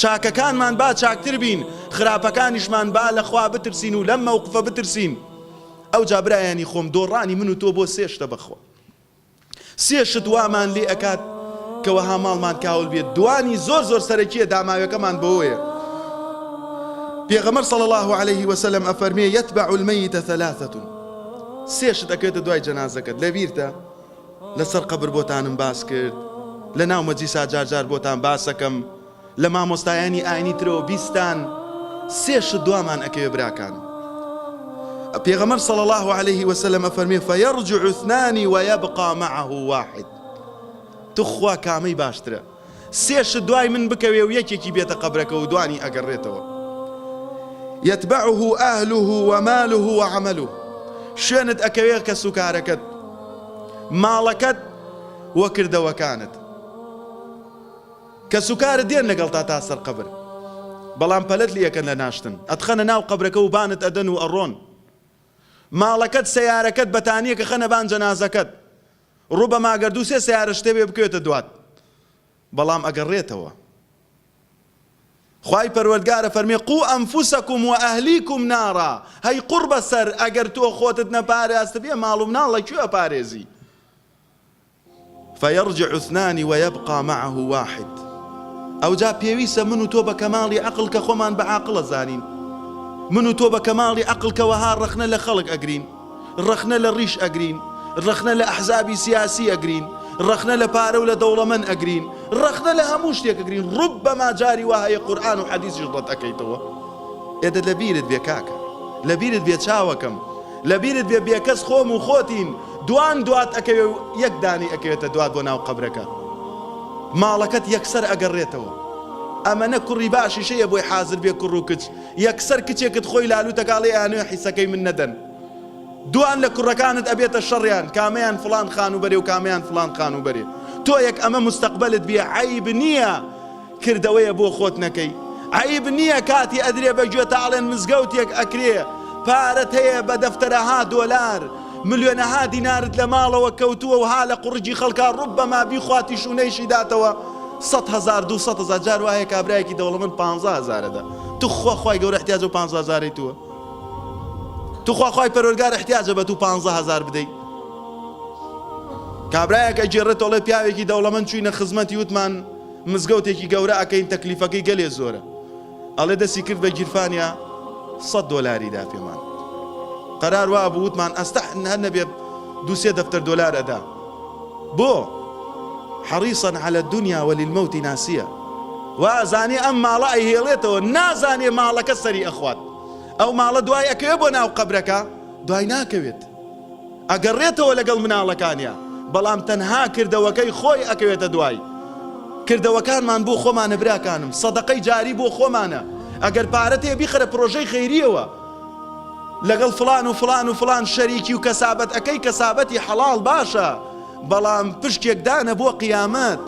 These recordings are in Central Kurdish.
چاکەکانمان با چاکتر بین، خراپەکانیشمان با لە خوا بترسین و لەم مەوقفە بترسین. ئەوجا برایانی خۆم دۆڕانی من و تۆ بۆ سێ شتە بەخوا. سێ شت وامان لێ ئەکات کە وەها ماڵمان کاول بێت، دووانی زۆر زۆر سەرەکیە داماوێکەمان بەوەیە پێغەمبەر صلی اللە علیە وسلم ئەفەرمێ، یتبع المیت ثلاثە، سێ شت ئەکەوێتە دوای جەنازەکەت، لەبیرتە؟ لەسەر قەبر بۆتانم باس کرد، لە ناو مەجلیسا جار جار بۆتان باسەکەم، لە مامۆستایانی ئاینی ترەوە بیستان سێ شت دوامان ئەکەوێ براکانم. پێغەمبەر صلی اللە علیە و سلم ئەفەرموێ، فیرجع اثنان ویبقی معه واحد، توخوا کامەی باشترە؟ سێ شت دوای من بکەوێ و یەکێکی بێتە قەبرەکە و دوانی ئەگەڕێتەوە یتبعه اهله وماله وعمله شوێنت ئەکەوێ کەس و کارەکەت ماڵەکەت و کردەوەکانت کەس و کارت دێن لەگەڵتا تا سەر قەبر بەڵام پەلەت لەکەن لە ناشتن ئەتخەنە ناو قەبرەکە و بانت ئەدەن و ئەڕۆن ماڵەکەت سەیارەکەت بەتانیەکە خەنەبان جەنازەکەت ڕوبەما گەر دوو سێ سەیارەش تێبێ بکەوێتە دوات بەڵام ئەگەڕێتەوە. خوای پەروەردگار ئەفەرمێ، قو انفسکم و اهلیکم نارا، هەی قوڕ بەسەر ئەگەر تۆ خۆتت نەپاراستبێ ماڵ و مناڵ لەکوێ ئەپارێزی؟ فیرجع اثنان و یبقی معه واحد ئەوجا پێویستە من و تۆ بە کەماڵی عەقڵ کە خۆمان بە عاقڵ ئەزانین من و تۆ بە کەماڵی عەقڵ کە وەها ڕەخنە لە خەڵک ئەگرین ڕەخنە لە ڕیش ئەگرین، ڕەخنە لە ئەحزابی سیاسی ئەگرین، ڕەخنە لە پارە و لە دەوڵەمەند ئەگرین، ڕەخنە لە هەموو شتێک ئەگرین، ڕوبەما جاری وا هەیە قورئان و حەدیسیش ڕەت ئەکەیتەوە. ئێدە لە بیرت بێ کاکە، لە بیرت بێ چاوەکەم، لە بیرت بێ بێکەس خۆم و خۆتین، دوان دوات ئەکەوێ و یەک دانەی ئەکەوێتە دوات بۆ ناو قەبرەکە، ماڵەکەت یەکسەر ئەگەڕێتەوە. ئەمەنە کوڕی باشیشە یە بۆی حازر بێ کوڕ و کچ، یەکسەر کچێکت خۆی لالوتەکە ئەڵێ ئەیانوێ حیسەکەی من نەدەن دوان لە کوڕەکانت ئەبێتە شەڕیان کامەیان فڵان خانوبەرێ و کامەیان فڵان خانوبەرێ تۆیەک ئەمە مستەقبەلت بیە عەیب نیە کردەوەیە بۆ خۆت نەکەی عەیب نیە کاتی ئەدرێ بە گوێتا ئەڵێن مزگەوتێک ئەکرێ پارەت هەیە بە دەفتەرەها دۆلار ملیۆنەها دینارت لە ماڵەوە کەوتووە و ها لە قوڕگی خەڵکا ڕوبەما بیخواتی شونەیشی داتەوە سەد هەزار دوو سەد هەزار جار وایە کابرایەکی دەوڵەمەند پانزە هەزارە دە توخوا خوای گەورە احتیاج بەو پانزە هەزارەی تووە توخوا خوای پەروەرگار احتیاجە بە تو پانزە هەزار بدەی کابرایەک ئەگێڕێت ئەڵێ پیاوێکی دەوڵەمەند چوینە خزمەتی وتمان مزگەوتێکی گەورە ئەکەین تەکلیفەکەی گەلێ زۆرە ئەڵێ دەستی کرد بە گیرفانیا سە دۆلاری دا پێمان قەرار وا بووتمان ئەستە هەر نەبێت دوسێ دەفتەر دۆلار ئەدا بۆ؟ حریصا علی الدنیا وللموت ناسیە وا ئەزانێ ئەم ماڵە ئەیهێڵێتەوە نازانێ ماڵەکە سەری ئەخوات ئەو ماڵە دوای ئەکەوێ بۆ ناو قەبرەکە دوای ناکەوێت ئەگەڕێتەوە لەگەڵ مناڵەکانیا بەڵام تەنها کردەوەکەی خۆی ئەکەوێتە دوای کردەوەکانمان بۆ خۆمانە براکانم سەدەقەی جاری بۆ خۆمانە ئەگەر پارەت هەیە بیخەرە پرۆژەی خەیریەوە لەگەڵ فڵان و فڵان و فڵان شەریکی و کەسابەت ئەکەی کەسابەتی حەڵاڵ باشە بەڵام پشکێک دانە بۆ قیامەت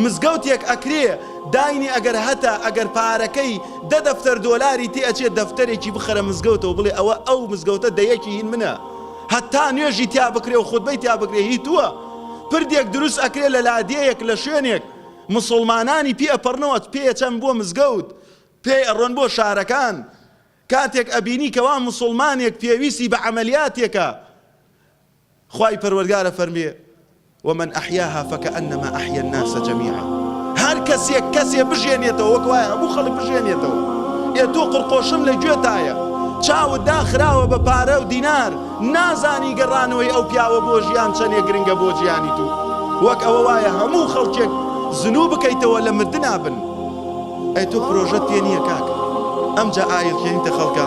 مزگەوتێک ئەکرێ داینی ئەگەر هەتە ئەگەر پارەکەی دە دەفتەر دۆلاری تێ ئەچێ دەفتەرێکی بخەرە مزگەوتەوە بڵێ ئەوە ئەو مزگەوتە دەیەکی هین منە هەتا نوێژی تیا بکرێ و خودبەی تیا بکرێ هی تووە پردێک دروست ئەکرێ لە لادێیەک لە شوێنێک مسلمانانی پێ ئەپەڕنەوە پێ چەند بۆ مزگەوت پێی ئەڕۆن بۆ شارەکان کاتێک ئەبینی کەوا موسوڵمانێک پێویستی بە عەمەلیاتێکە خوای پەروەردگار ئەفەرموێ ومن احیاها فکانما احی الناس جمیعا هەر کەسێک کەسێ بژێنێتەوە وەک وایە هەموو خەڵک بژێنێتەوە ئێ تۆ قڕقۆشم لە گوێتایە چاوت داخراوە بە پارە و دینار نازانی گەڕانەوەی ئەو پیاوە بۆ ژیان چەنێ گرنگە بۆ جیانی تو وەک ئەوە وایە هەموو خەڵکێک زنوو بکەیتەوە لە مردنا بن ئەی تۆ پرۆژەت پێ نیە کاکە ئەمجا ئایلکێنیتە خەڵکا.